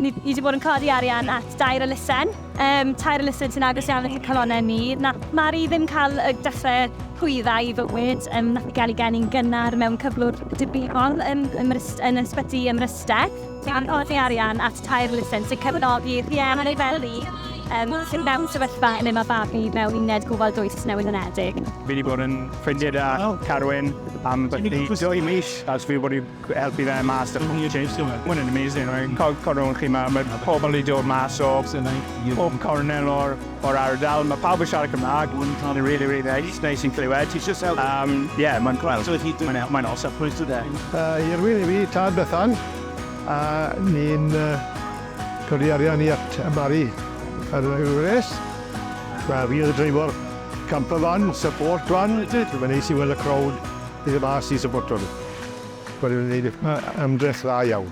Ni wedi bod yn codi arian at dair elusen. Um, tair elusen sy'n agos iawn at y calonau ni. Na, Mari ddim cael y dechrau rhwyddau i fywyd. Um, nath i gael ei geni'n gynnar mewn cyflwr dibynol um, yn, yn ysbyty ym Mryste. gan godi arian at tair lisens i gefnogi rhieni fel fi, yym, sydd mewn sefyllfa lle mae babi mewn uned gofal dwys newydd yn Edig. Fi 'di bod yn ffrindiau da Carwyn am byti dwy mis a fi wedi helpu fe mas a bob dim. Ma' hwn yn amazing. Cofiwch chi ma' ma' pobl 'di dod mas o bob cornel o'r O'r ardal, mae pawb yn siarad Cymraeg, mae'n cael ei rili, rili neis, neis i'n clywed, ti eisiau sel... Yym, ie, mae'n gweld, so hi, mae'n mae'n os a pwys today. Yy, i'r wir i fi, Tad Bethan, a ni'n yy, codi arian i at y Barri ar y Eures. Wel, fi oedd y dreifor camper van, support van, mae'n neis i weld y crowd, bydd y mas i supporto nhw. Wedi wneud ymdrech dda iawn.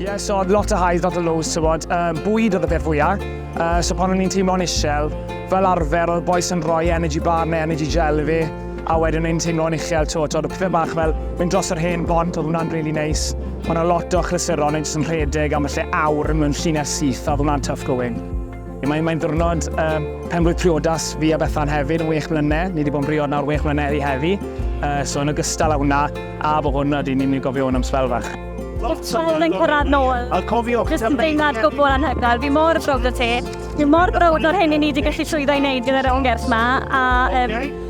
Ie, so oedd lot o highs, lot o lows, so bod, um, bwyd oedd y peth fwyaf. Uh, so pan o'n i'n teimlo'n isel, fel arfer oedd boes yn rhoi energy bar neu energy gel i fi, a wedyn o'n teimlo'n uchel, to, to, oedd y pethau bach fel mynd dros yr hen bont, oedd hwnna'n really nice. Mae yna lot o chlysuron yn jyst yn rhedeg am y lle awr mewn llinell syth, oedd hwnna'n tough going. Mae'n mae ddwrnod uh, penblwydd priodas fi a Bethan hefyd yn wych mlynedd. Ni wedi bod yn briod nawr wych mlynedd i heddi. Uh, so yn ogystal â hwnna, a bod hwn ydy ni'n mynd i gofio hwn am sbel fach. Wel, yn cyrraedd nôl. A cofiwch, Jyst yn deimlad gwbl anhygoel. Fi mor browd o ti. Fi mor browd o'r hyn i ni wedi gallu llwyddo i wneud gyda'r ymgyrch yma. A um,